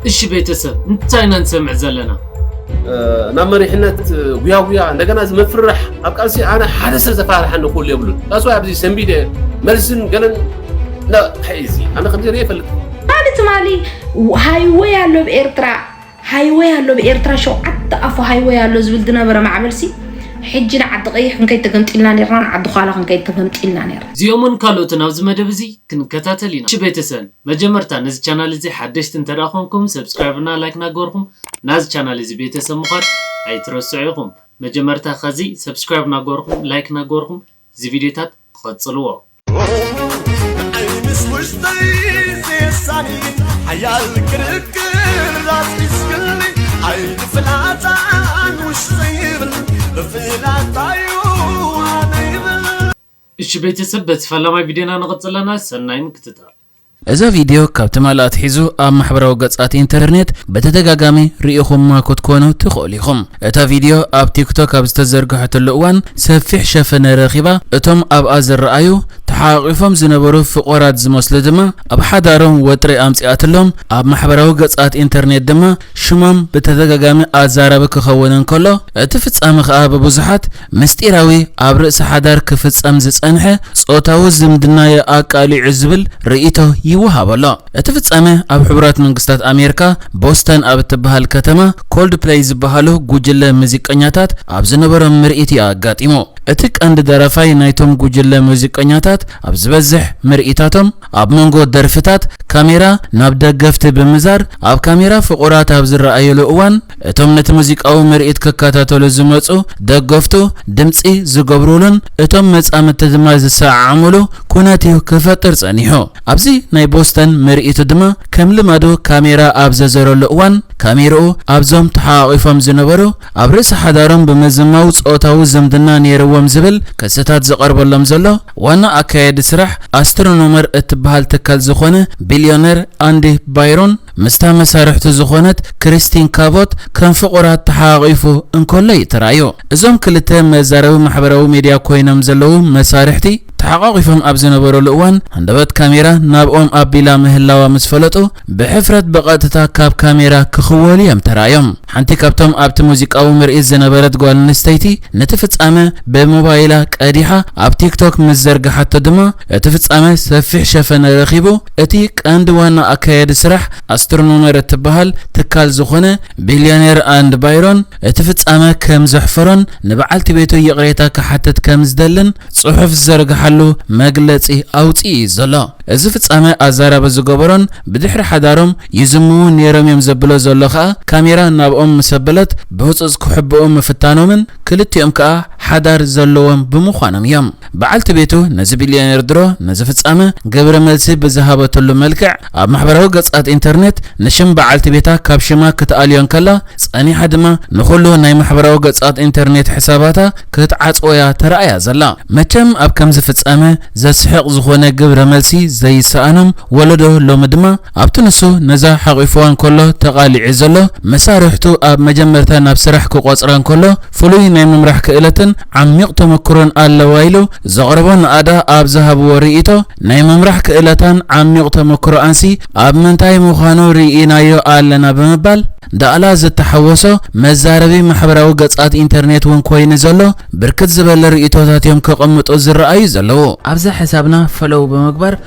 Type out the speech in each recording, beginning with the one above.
እሺ ቤተሰብ እንታይ ኢና ንሰምዕ ዘለና? ናብ መሪሕነት ጉያጉያ እንደገና እዚ ምፍርራሕ ኣብ ቃልሲ ኣነ ሓደ ሰብ ዘፈራርሓኒ ክህሉ የብሉን ዳስ ዋይ ኣብዚ ሰንቢደ መልስን ገለን እዚ ኣነ ከምዚ ርእ ይፈልጥ ማሊ ትማሊ ሃይወይ ኣሎ ብ ኤርትራ ሃይወይ ኣሎ ብ ኤርትራ ሸውዓተ ኣፉ ሃይወይ ኣሎ ዝብል ዝነበረ ማዕበልሲ ሕጂ ንዓዲ ቀይሕ ክንከይድ ተገምጢልና ነርና ንዓዲ ኋላ ክንከይድ ተገምጢልና ነርና እዚኦምን ካልኦትን ኣብዚ መደብ እዚ ክንከታተል ኢና ቤተሰብ መጀመርታ ነዚ ቻናል እዚ ሓደሽቲ እንተ ኮንኩም subscribe እና like ናገበርኩም ናዚ ቻናል እዚ ቤተሰብ ምኳን ኣይትረስዑ ኢኩም መጀመርታ ከዚ subscribe ናገበርኩም like ናገበርኩም እዚ ቪድዮታት ቐጽልዎ። ንዓይ ምስ ውሽጠይ ዘየሳኒ ሓያል ክርክር ኣስዒስክኒ ዓይኒ ፍላጻን ውሽጠይ ይብል ብፍላጣዩ ዋነ ይብል እሺ ቤተሰብ በቲ ፈላማይ ቪድዮና ንቅፅል ኣለና ሰናይ ምክትታል። እዛ ቪድዮ ካብ ትማሊ ኣትሒዙ ኣብ ማሕበራዊ ገጻት ኢንተርኔት ብተደጋጋሚ ርኢኹማ ክትኮኑ ትኽእሉ ኢኹም። እታ ቪድዮ ኣብ ቲክቶክ ኣብ ዝተዘርግሐትሉ እዋን ሰፊሕ ሸፈነ ረኺባ፣ እቶም ኣብኣ ዝረኣዩ ተሓቛቒፎም ዝነበሩ ፍቑራት ዝመስሉ ድማ ኣብ ሓዳሮም ወጥሪ ኣምጺኣትሎም፣ ኣብ ማሕበራዊ ገጻት ኢንተርኔት ድማ ሽሞም ብተደጋጋሚ ኣዛራቢ ክኸውን እንከሎ እቲ ፍጻመ ከኣ ብብዙሓት ምስጢራዊ ኣብ ርእሲ ሓዳር ክፍጸም ዝጸንሐ ጾታዊ ዝምድና'የ ኣቃሊዑ ዝብል ርእይቶ ይወሃቦ ኣሎ። እቲ ፍጻመ ኣብ ሕቡራት መንግስታት ኣሜርካ ቦስተን ኣብ እትበሃል ከተማ ኮልድፕለይ ዝበሃሉ ጉጅለ ሙዚቀኛታት ኣብ ዝነበሮም ምርኢት'ዩ ኣጋጢሙ። እቲ ቀንዲ ደራፋይ ናይቶም ጉጅለ ሙዚቀኛታት ኣብ ዝበዝሕ ምርኢታቶም ኣብ መንጎ ደርፍታት ካሜራ ናብ ደገፍቲ ብምዛር ኣብ ካሜራ ፍቑራት ኣብ ዝረኣዩሉ እዋን እቶም ነቲ ሙዚቃዊ ምርኢት ክከታተሉ ዝመጹ ደገፍቱ ድምጺ ዝገብሩሉን እቶም መጻምድቲ ድማ ዝሰዓዓሙሉ ኩነት'ዩ ክፈጥር ጸኒሑ። ኣብዚ ናይ ቦስተን ምርኢቱ ድማ ከም ልማዱ ካሜራ ኣብ ዘዘረሉ እዋን ካሜርኡ ኣብዞም ተሓቛቒፎም ዝነበሩ ኣብ ርእሲ ሓዳሮም ብምዝማው ጾታዊ ዝምድና ነይርዎም ዝብል ክስታት ዝቐርበሎም ዘሎ ዋና ኣካያዲ ስራሕ ኣስትሮኖመር እትበሃል ትካል ዝኾነ ቢልዮነር ኣንዲ ባይሮን ምስታ መሳርሕቱ ዝኾነት ክሪስቲን ካቮት ከም ፍቑራት ተሓቛቒፉ እንከሎ'ዩ ተራእዩ። እዞም ክልተ መዛረቢ ማሕበራዊ ሜድያ ኮይኖም ዘለዉ መሳርሕቲ፣ ተሓቛቒፎም ኣብ ዝነበሩሉ እዋን፣ ሃንደበት ካሜራ ናብኦም ኣቢላ ምህላዋ ምስ ፈለጡ፣ ብሕፍረት ብቐጥታ ካብ ካሜራ ክኽወሉ'ዮም ተራእዮም። ሓንቲ ካብቶም ኣብቲ ሙዚቃዊ ምርኢት ዝነበረት ጓል ኣንስተይቲ ነቲ ፍጻመ ብሞባይላ ቀዲሓ ኣብ ቲክቶክ ምስ ዘርግሓቶ ድማ፣ እቲ ፍጻመ ሰፊሕ ሸፈነ ረኺቡ። እቲ ቀንዲ ዋና ኣካያዲ ስራሕ ኣስትሮኖመር እትበሃል ትካል ዝዀነ ቢልዮኔር ኣንድ ባይሮን፣ እቲ ፍጻመ ከም ዘሕፈሮን ንበዓልቲ ቤቱ ይቕሬታ ክሓትት ከም ዝደልን ጽሑፍ ዝዘርግሓሉ መግለጺ ኣውጺኡ እዩ ዘሎ። እዚ ፍጻመ ኣዛራቢ ዝገበሮን ብድሕሪ ሓዳሮም ይዝምዉ ነይሮም እዮም ዘብሎ ዘሎ ከኣ ካሜራ ናብኦም ምስ ኣበለት ብህጹጽ ክሕብኡ ምፍታኖምን ክልቲኦም ከኣ ሓዳር ዘለዎም ብምዃኖም እዮም። በዓልቲ ቤቱ ነዚ ቢልዮኔር ድሮ ነዚ ፍጻመ ግብረ መልሲ ብዝሃበትሉ መልክዕ ኣብ ማሕበራዊ ገጻት ኢንተርኔት ንሽም በዓልቲ ቤታ ካብ ሽማ ክትኣልዮ እንከላ ጸኒሓ ድማ ንኹሉ ናይ ማሕበራዊ ገጻት ኢንተርኔት ሕሳባታ ክትዓጽዎ'ያ ተራእያ ዘላ። መቸም ኣብ ከምዚ ፍጻመ ዘስሕቕ ዝኾነ ግብረ መልሲ ዘይሰኣኖም ወለዶ ሎሚ ድማ፣ ኣብቲ ንሱ ነዛ ሓቚፍዋ እንከሎ ተቓሊዑ ዘሎ፣ መሳርሕቱ ኣብ መጀመርታ ናብ ስራሕ ክቖጽራ እንከሎ ፍሉይ ናይ ምምራሕ ክእለትን ዓሚቕ ተመክሮን ኣለዋ ኢሉ ዘቕረቦ ንኣዳ ኣብ ዝሃብዎ ርእይቶ፣ ናይ ምምራሕ ክእለታን ዓሚቕ ተመክሮኣንሲ ኣብ ምንታይ ምዃኑ ርኢናዮ ኣለና ብምባል፣ ዳእላ ዝተሓወሶ መዛረቢ ማሕበራዊ ገጻት ኢንተርኔት እውን ኮይኑ ዘሎ ብርክት ዝበለ ርእይቶታት እዮም ከቐምጡ ዝረኣዩ ዘለዉ። ኣብዛ ሕሳብና ፈለው ብምግባር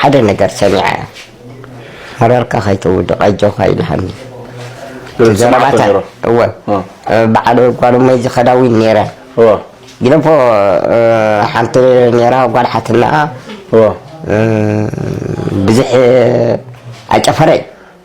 ሓደ ነገር ሰሚዐ መረርካ ከይትውድቕ ኣጆኻ ኢልሃኒ ዘረባታ እወ በዓል ጓልመይ ዝኸዳዊ ነይረ ግደፎ ሓንቲ ነይራ ጓል ሓትና ብዙሕ ኣጨፈረይ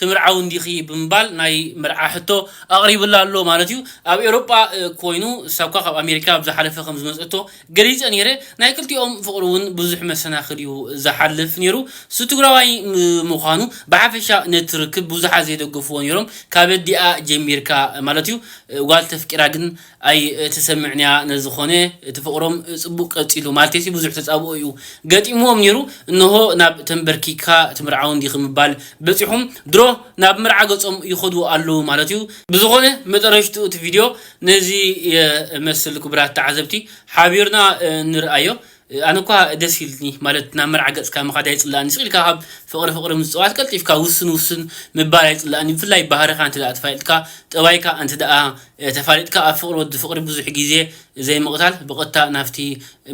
ትምርዓዊ እንዲኺ ብምባል ናይ መርዓ ሕቶ ኣቕሪቡላ ኣሎ ማለት እዩ። ኣብ ኤውሮጳ ኮይኑ እሳኳ ካብ ኣሜሪካ ኣብ ዝሓለፈ ከም ዝመጸቶ ገሊጸ ኔረ። ናይ ክልቲኦም ፍቕሪ ውን ብዙሕ መሰናኽል እዩ ዝሓልፍ ኔሩ። እሱ ትግራዋይ ምዃኑ ብሓፈሻ ነቲ ርክብ ብዙሓት ዘይደገፍዎ ኔሮም ካብ ኣዲኣ ጀሚርካ ማለት እዩ። ጓል ተፍቂራ ግን ኣይ ተሰምዕንያ ነዝኾነ እቲ ፍቅሮም ጽቡቅ ቀጺሉ ማልቴሲ ብዙሕ ተጻብኦ እዩ ገጢምዎም ኔሩ እንሆ ናብ ተንበርኪክካ ትምርዓውን ዲኺ ምባል በጺሑም ድሮ ናብ መርዓ ገጾም ይኸዱ ኣለዉ ማለት እዩ ብዝኾነ መጠረሽትኡ እቲ ቪድዮ ነዚ የመስል ኩቡራት ተዓዘብቲ ሓቢርና ንርኣዮ ኣነ እኳ ደስ ኢልኒ ማለት ናብ መርዓ ገጽካ ምኻድ ኣይጽላእኒ ስቅ ኢልካ ካብ ፍቅሪ ፍቅሪ ምጽዋት ቀልጢፍካ ውስን ውስን ምባል ኣይጽላእኒ ብፍላይ ባህርካ እንተ ተፋሊጥካ ጠባይካ እንተ ተፋሊጥካ ኣብ ፍቅሪ ወዲ ፍቅሪ ብዙሕ ግዜ ዘይምቅታል ብቀጥታ ናብቲ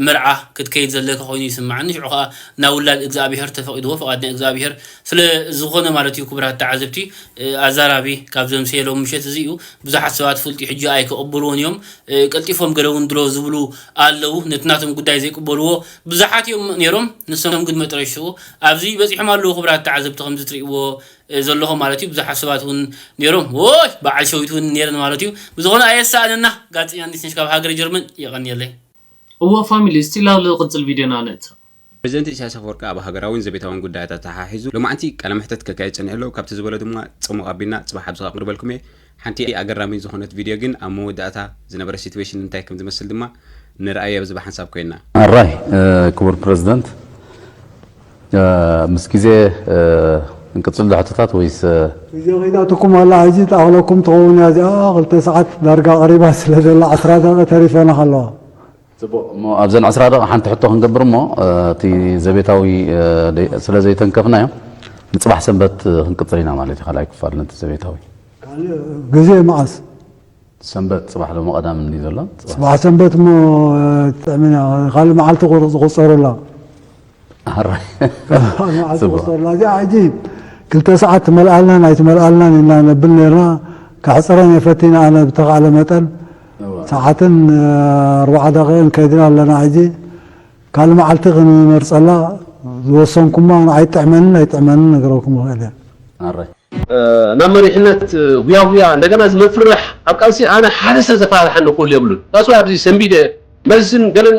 መርዓ ክትከይድ ዘለካ ኮይኑ ይስማዓኒ ሽዑ ከኣ ናብ ውላድ እግዝኣብሄር ተፈቂድዎ ፍቃድ ናይ እግዝኣብሄር ስለ ዝኮነ ማለት እዩ ክቡራት ተዓዘብቲ ኣዛራቢ ካብ ዘምሰየ ሎሚ ምሸት እዚ እዩ ብዙሓት ሰባት ፍልጥዩ ሕጂ ኣይክቅብልዎን እዮም ቀልጢፎም ገለ ውን ድሮ ዝብሉ ኣለው ነቲ ናቶም ጉዳይ ዘይቅበልዎ ብዙሓት ኢዮም ኔሮም ንሶም ግን መጥረሽትኡ ኣብዚ በጺሖም ኣለው ክብራት ተዓዘብቲ ከምዚ ትርእዎ ዘለኹም ማለት ኢዩ ብዙሓት ሰባት ውን ኔሮም ዎይ በዓል ሸዊት ውን ኔረን ማለት ኢዩ ብዝኾነ ኣየሳእነና ጋዜጠኛ ኣዲስነሽ ካብ ሃገረ ጀርመን የቀንየለይ። እወ ፋሚሊ እስቲ ላቭ ልቅጽል ቪድዮና ንእተው። ፕረዚደንት ኢሳይያስ ኣፈወርቂ ኣብ ሃገራዊን ዘቤታዊን ጉዳያት ኣተሓሒዙ ሎማዕንቲ ቃለ መሕተት ከካይድ ጸኒሑ ኣሎ። ካብቲ ዝበሎ ድማ ጽሙቕ ኣቢልና ጽባሕ ኣብዚ ከቕርበልኩም'የ። ሓንቲ ኣገራሚት ዝኾነት ቪድዮ ግን ኣብ መወዳእታ ዝነበረ ሲትዌሽን እንታይ ከም ዝመስል ድማ ንርኣዮ ኣብዚ ብሓንሳብ ኮይንና። ኣራይ ክቡር ፕረዚደንት፣ ምስ ግዜ እንቅጽሎ ሕቶታት ወይስ። ግዜ ከይተኣትኩም ዋላ ሕጂ ትኣኽለኩም ትኸውን እያ እዚኣ ክልተ ሰዓት ዳርጋ ቀሪባ ስለ ዘላ ዓስራ ደቒቕ ተሪፈናኻ ኣለዋ ጽቡቕ እሞ ኣብዘን ዕስራ ደቒቕ ሓንቲ ሕቶ ክንገብር እሞ እቲ ዘቤታዊ ስለ ዘይተንከፍናዮ ንጽባሕ ሰንበት ክንቅጽል ኢና ማለት እዩ ካልኣይ ክፋል ነቲ ዘቤታዊ ግዜ መዓስ ሰንበት ጽባሕ ሎሚ ቀዳም እንዲ ዘሎ ጽባሕ ሰንበት እሞ ጥዕሚና ካልእ መዓልቲ ዝቑጸረላ ክልተ ሰዓት ትመልኣልናን ኣይትመልኣልናን ኢና ነብል ነርና ከሕፅረን እየ ፈቲነ ኣነ ብተኻእለ መጠን ሰዓትን ኣርባዓ ደቂቕን ከይድና ኣለና ሕጂ ካልእ መዓልቲ ክንመርፀላ ዝወሰንኩማ ንዓይ ጥዕመንን ኣይጥዕመንን ነግረኩም ይኽእል እየ ናብ መሪሕነት ሁያሁያ እንደገና እዚ መፍርሕ ኣብ ቃልሲ ኣነ ሓደ ሰብ ዘፈራርሓኒ ክህሉ የብሉን that's why ኣብዚ ሰንቢደ መዝን ገለን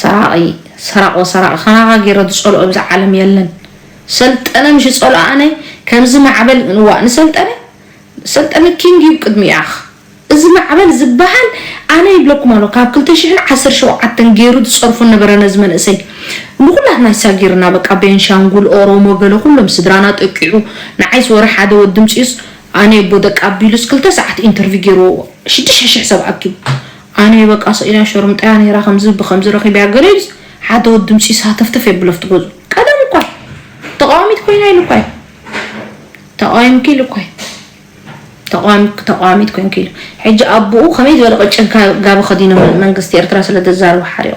ሰራቒ ሰራቆ ሰራቒ ከማኻ ጌረ ዝጸልኦ እብዛ ዓለም የለን ሰልጠነ ምሽ ዝጸልኦ ኣነ ከምዚ ማዕበል እዋእ ንሰልጠነ ሰልጠነ ኪንግ እዩ ቅድሚኡ ኣኽ እዚ ማዕበል ዝበሃል ኣነ ይብለኩም ኣሎ ካብ ክልተ ሽሕን ዓሰርተ ሸውዓተን ጌሩ ዝጸርፎ ነበረ ነዚ መንእሰይ ንኹላትና ይሳጊርና በቃ ቤንሻንጉል ኦሮሞ ገለ ኩሎም ስድራና ጠቂዑ ንዓይ ዝወረ ሓደ ወዲ ምጽዩስ ኣነ የቦ ደቂ ኣቢሉስ ክልተ ሰዓት ኢንተርቪው ጌርዎ ሽዱሽተ ሽሕ ሰብ ኣኪቡ ኣነ በቃ ስቂላ ሸርሙጣያ ነይራ ከምዚ ብከምዚ ረኪበያ ገለ ኢሉስ ሓደ ወዲ ምጺኡስ ሃተፍተፍ የብሎ ኣብቲ ገዝኡ ቀደም እኳ እዩ ተቃዋሚት ኮይና ኢሉ እኳ እዩ ተቃዊምኪ ኢሉ እኳ እዩ ተቃዋሚት ተቃዋሚት ኮንኪ ኢሉ ሕጂ ኣቡኡ ከመይ ዝበለ ቅጭን ጋቢ ከዲኖም መንግስቲ ኤርትራ ስለ ዘዛርቡ ሓሪቁ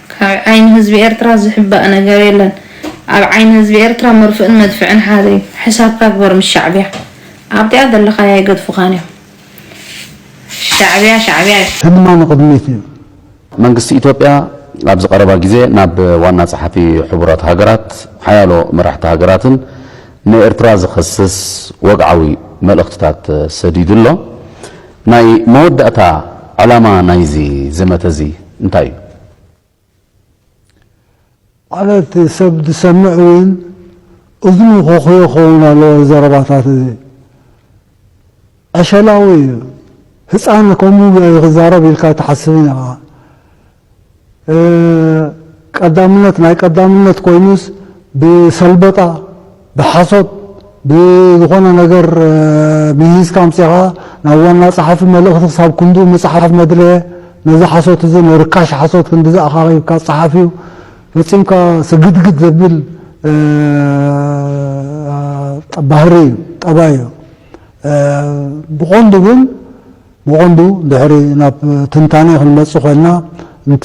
ካብ ዓይኒ ህዝቢ ኤርትራ ዝሕባእ ነገር የለን ኣብ ዓይኒ ህዝቢ ኤርትራ መርፍእን መድፍዕን ሓደ እዩ ሕሳብካ ግበር ምስ ሻዕብያ ኣብቲኣ ዘለኻያ ኣይገድፉኻን እዮም ሻዕብያ ሻዕብያ እዩ። ህድማ ንቕድሚት እዩ። መንግስቲ ኢትዮጵያ ኣብዚ ቀረባ ግዜ ናብ ዋና ጸሓፊ ሕቡራት ሃገራት፣ ሓያሎ መራሕቲ ሃገራትን ንኤርትራ ዝኸስስ ወግዓዊ መልእኽትታት ሰዲዱ ኣሎ። ናይ መወዳእታ ዕላማ ናይዚ ዘመተ እዚ እንታይ እዩ? ማለት ሰብ ዝሰምዕ እውን እዝኑ ኮኹዮ ክኸውን ኣለዎ እዚ ዘረባታት እዚ ዕሸላዊ እዩ ህጻን ከምኡ ዶ እዩ ክዛረብ ኢልካ ኣይትሓስብን ኢኻ። ቀዳምነት ናይ ቀዳምነት ኮይኑስ ብሰልበጣ ብሓሶት ብዝኾነ ነገር ምሂዝካ ኣምጺኻ ናብ ዋና ጸሓፊ መልእኽቲ ክሳብ ክንድኡ ምጽሓፍ መድረየ ነዚ ሓሶት እዚ ንርካሽ ሓሶት ክንድዚ ኣኻኺብካ ጸሓፍ እዩ ፈጺምካ ስግድግድ ዘብል ባህሪ እዩ ጠባይ እዩ ብቐንዱ ግን ብቐንዱ ድሕሪ ናብ ትንታኔ ክንመጽእ ኮይንና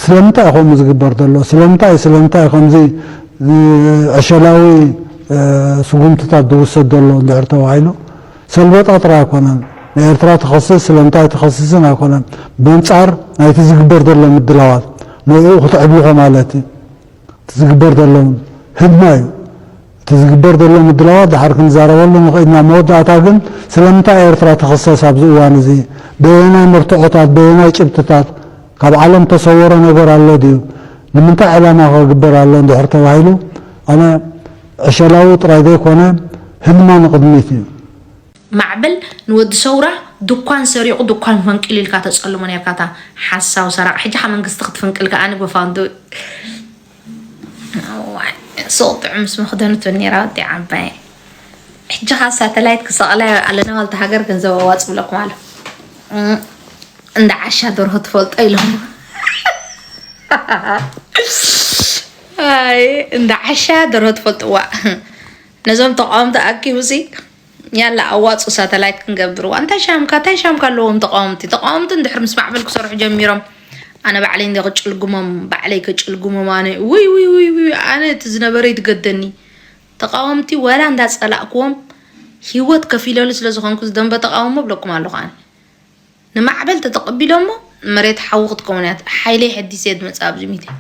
ስለምንታይ እዩ ከምኡ ዝግበር ዘሎ ስለምንታይ ስለምንታይ እዩ ከምዚ ዕሸላዊ ስጉምትታት ዝውሰድ ዘሎ እንድሕር ተባሂሉ ሰልበጣ ጥራይ ኣይኮነን ንኤርትራ ትኸስስ ስለምንታይ ኣይትኸስስን ኣይኮነን በንጻር ናይቲ ዝግበር ዘሎ ምድላዋት ንዕኡ ክትዕብልኾ ማለት እዩ እቲ ዝግበር ዘሎ ህድማ እዩ እቲ ዝግበር ዘሎ ምድላዋት ድሓር ክንዛረበሉ ንኽእል ኢና። ኣብ መወዳእታ ግን ስለምንታይ ኤርትራ ትኽሰስ ኣብዚ እዋን እዚ? በየናይ መርትዖታት? በየናይ ጭብጥታት? ካብ ዓለም እተሰወረ ነገር ኣሎ ድዩ? ንምንታይ ዕላማ ከ ክግበር ኣሎ እንድሕር ተባሂሉ ኣነ ዕሸላዊ ጥራይ ዘይኮነ ህልማ ንቕድሚት እዩ። ማዕበል ንወዲ ሰውራ ዱኳን ሰሪቁ ዱኳን ፈንቂሉ ኢልካ ተጸልሞ ኔርካ ኣታ ሓሳዊ ሰራቂ ሕጂ ከኣ መንግስቲ ክትፍንቅል ከኣ ብፋንትኡ። ሱቅ ጥዑም ምስ መክደኑ ትብል ነይራ ወዲ ዓባይ ሕጂ ከ ሳተላይት ክሰቅላ ኣለና ዋልታ ሃገር ገንዘብ ኣዋፅ ብለኩም ኣሎ እንዳ ዓሻ ደርሆ ትፈልጦ ኢሎም እንዳ ዓሻ ደርሆ ትፈልጥዋ ነዞም ተቃወምቲ ኣኪቡ ሲ ያላ ኣዋጹ ሳተላይት ክንገብርዋ እንታይ ሻምካ እንታይ ሻምካ ኣለዎም ተቃወምቲ ተቃወምቲ እንድሕር ምስ ማዕበል ክሰርሑ ጀሚሮም ኣነ ባዕለይ እንዲ ክጭልግሞም ባዕለይ ክጭልግሞም ኣነ ውይ ውይ ውይ ውይ ኣነ እቲ ዝነበረ ይትገደኒ ተቃወምቲ ወላ እንዳጸላእክዎም ሂወት ከፊለሉ ስለ ዝኾንኩ ዝደንበ ተቃውሞ ብለኩም ኣለኹ ኣነ ንማዕበል ተተቐቢሎሞ መሬት ሓዊ ክትከውን እያ ሓይለይ ሕዲስ እየ ድመጽእ ኣብዚ ሚድያ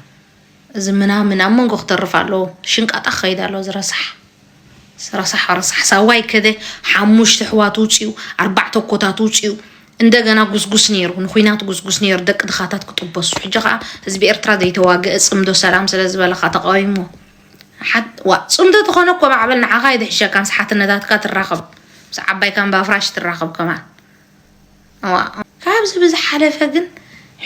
እዚ ምናምን ኣብ መንጎ ክተርፍ ኣለዎ ሽንቃጣ ክኸይድ ኣለዎ እዚ ረሳሕ ረሳሕ ረሳሕ ሳዋይ ከደ ሓሙሽተ ኣሕዋት ውፅኡ ኣርባዕተ ኮታት ውፅኡ እንደገና ጉስጉስ ነይሩ ንኩናት ጉስጉስ ነይሩ ደቂ ድኻታት ክጥበሱ ሕጂ ከዓ ህዝቢ ኤርትራ ዘይተዋገአ ፅምዶ ሰላም ስለ ዝበለካ ተቃዊሞ ሓት- ዋ ፅምዶ ተኾነ እኮ ማዕበል ንዓኻ ኣይድሕሸካን ስሓትነታትካ ትራኸብ ምስ ዓባይ ካምባፍራሽ ትራኸብ ከማን እዋእ ካብዚ ብዝሓለፈ ግን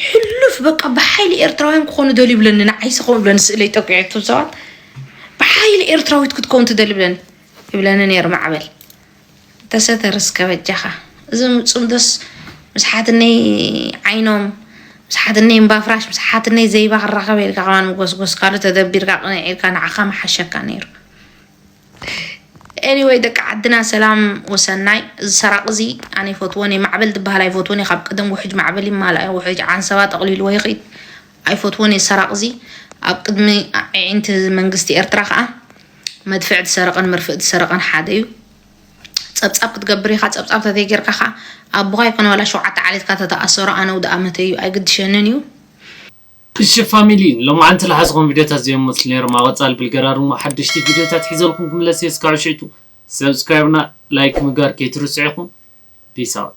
ሕሉፍ በቃ ብሓይሊ ኤርትራውያን ክኾኑ ደልዩ ይብለኒ ንዓይ ስኹም ይብለኒ ስእለይ ጠቂዑ እቶም ሰባት ብሓይሊ ኤርትራዊት ክትከውን ትደሊ ይብለኒ ይብለኒ ነይሩ ማዕበል ተሰተር እስከ በጃኻ እዞም ፅምዶስ ምስ ሓትነይ ዓይኖም ምስ ሓትነይ እምባፍራሽ ምስ ሓትነይ ዘይባ ክራኸበ ኢልካ ከማን ምጎስጎስካሉ ተደቢርካ ቅንዕ ኢልካ ንዓኻ ምሓሸካ ነይሩ ኤኒወይ ደቂ ዓድና ሰላም ወሰናይ እዚ ሰራቂ እዚ ኣነ ይፈትዎን እየ ማዕበል ዝበሃል ኣይፈትዎን እየ ካብ ቅድም ውሕጅ ማዕበል ይመሃል ኣየ ውሕጅ ዓንሰባ ጠቕሊልዎ ይኽድ ኣይፈትዎን እየ ሰራቂ እዚ ኣብ ቅድሚ ኣዒንቲ መንግስቲ ኤርትራ ከዓ መድፍዕ ዝሰረቐን መርፍእ ዝሰረቐን ሓደ እዩ ፀብፃብ ክትገብር ኢኻ ፀብፃብ ተተይ ጌርካ ከዓ ኣቦኻ ይኮነ ዋላ ሸውዓተ ዓሌትካ ተተኣሰሮ ኣነ ውድኣ መተይ እዩ ኣይግድሸንን እዩ እሺ ፋሚሊ ሎማዓንቲ ልሓዝኹም ቪድዮታት ዘዮም መስሉ ነይሮም ኣብ ቐፃሊ ብልገራር እሞ ሓደሽቲ ቪድዮታት ሒዘልኹም ክምለስ እየ እስካብ ሽዕቱ subscribe እና like ምግባር ከይትርስዑ ኢኹም peace out።